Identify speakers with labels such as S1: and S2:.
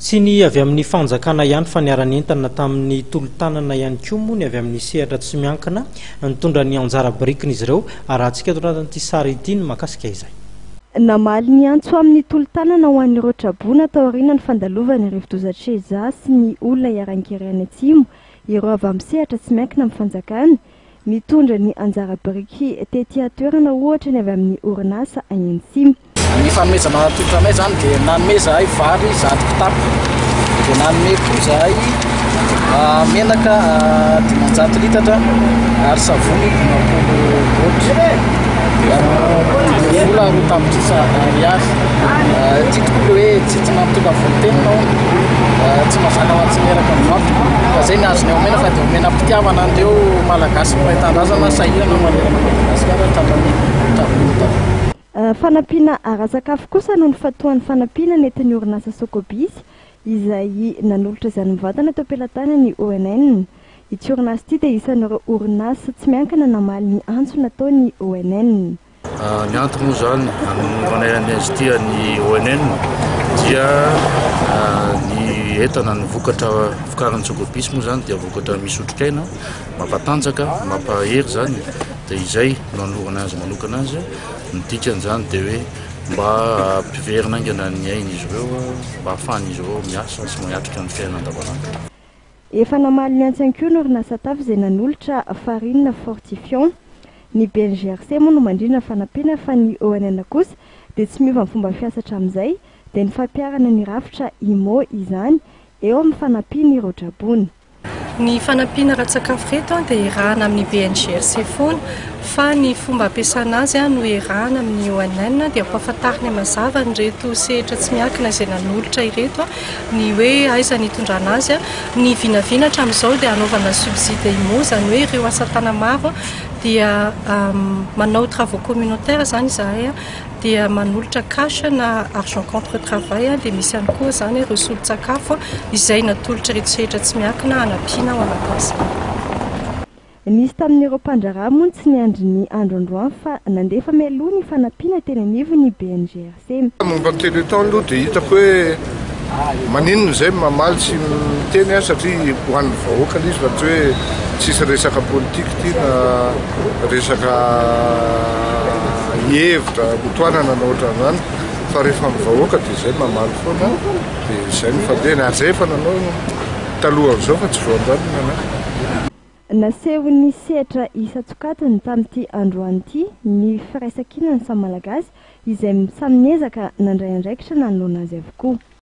S1: Tsy ny avy amin'ny fanjakana ihany fa niara-nentana tamin'ny tolo-tanana ihany koa moa ny avy amin'ny sehatra tsy miankina nitondra ny anjara birikin'izy ireo. Arahantsika eto anatin'ity sary ity ny mahakasika izay. Namaly ny
S2: antso amin'ny tolo-tanana ho an'ireo traboina taorianan'ny fandalovan'ny rivodoza Cheza sy ny olona iharan-kery any Atsimo ireo avy amin'ny sehatra tsy miankina amin'ny fanjakana nitondra ny anjara biriky tety an-toerana ohatra ny avy amin'ny orinasa Ayensim. Ny fanomezana
S3: atolotra anay izany dia nanome izahay vary zato kitapo, dia nanome koa izahay ah, menaka ah, dimanjato litatra ary savony dimampolo boaty. Dia vola roa tapitrisa ariary. Ah, Ity tokoa ilay hoe tsy tsy nampitonga volon-tena aho, ah, tsy mazaka ho tsy miaraka amin'ny maty. Fa izay ny azony omena fa dia omena am-pitiavana an'ireo Malagasy mahay tanindrazana sahirana manerana an'i Madagasikara hatramin'ny tamin'ny taona.
S2: Fanampiana ara-tsakafo kosa no nifantohan'ny fanampiana nentin'ny orinasa Socobis izay nanolotra izany mivantana teo am-pelatanan'ny ONN. Ity orinasa ity dia isan'ireo orinasa tsy miankina namaly ny antso nataon'ny ONN. Ny antony
S4: moa izany nanaovana an'i Aztia ny ONN dia ny entana, ny vokatra vokarin'ny Socobis moa izany dia vokatra misy otrikaina. Mampatanjaka, mampahery izany dia izay no anolorana azy manokana azy. Ny dikan'izany dia hoe mba hampiverina haingana ny ain'izy ireo mba hahafahan'izy ireo miasa sy miatrika ny fiainana andavanandro. Efa
S2: namaly ny antsy ihany koa ny orinasa Taf izay nanolotra farine fortifiant. Ny BNGRC moa no mandrindra ny fanampiana fa ny ONN kosa dia tsy miova ny fomba fiasa hatramin'izay dia ny fampiharana ny rafitra IMO izany eo amin'ny fanampian'ireo draboina. Ny
S5: fanampiana ara-tsakafo ireto dia erahana amin'ny BNGRC foana fa ny fomba ampiasana azy no erahana amin'ny ONN dia ampahafantariny mazava an'ireto sehatra tsy miankina izay nanolotra ireto ny hoe aiza ny itondrana azy. Ny vinavina hatramin'izao dia anaovana subside IMO izany hoe ireo asa tanamaro dia manao travaux communautaires izany izahay. dia manolotra cash na argent contre travail dia misy ihany koa izany ireo solon-tsakafo izay natolotr'ireto sehatra tsy miankina hanampiana ao anatin'izany.
S2: Nisy tamin'ireo mpandraharaha moa ny tsy niandry ny andro androany fa nandefa mialoha ny fanampiana teny anivon'ny BNGRC. Momba ny téléthon
S6: aloha dia hitako hoe Maninona izay no mamaly sy miteny an satria ho an'ny vahoaka ilay izy fa tsy hoe tsisy resaka politique ity na resaka hevitra mitohanana na ohatran'izany fa rehefa amin'ny vahoaka dia izay mamaly foana dia izay no fandehany ary izay efa nanao talohan'izao fa tsy vao androany no nanao.
S2: Nasehon'ny sehatra isan-tsokajiny tamin'ity androany ity ny firaisankinan'ny samy Malagasy izay samy niezaka nandray andraikitra nanoloana azy avokoa.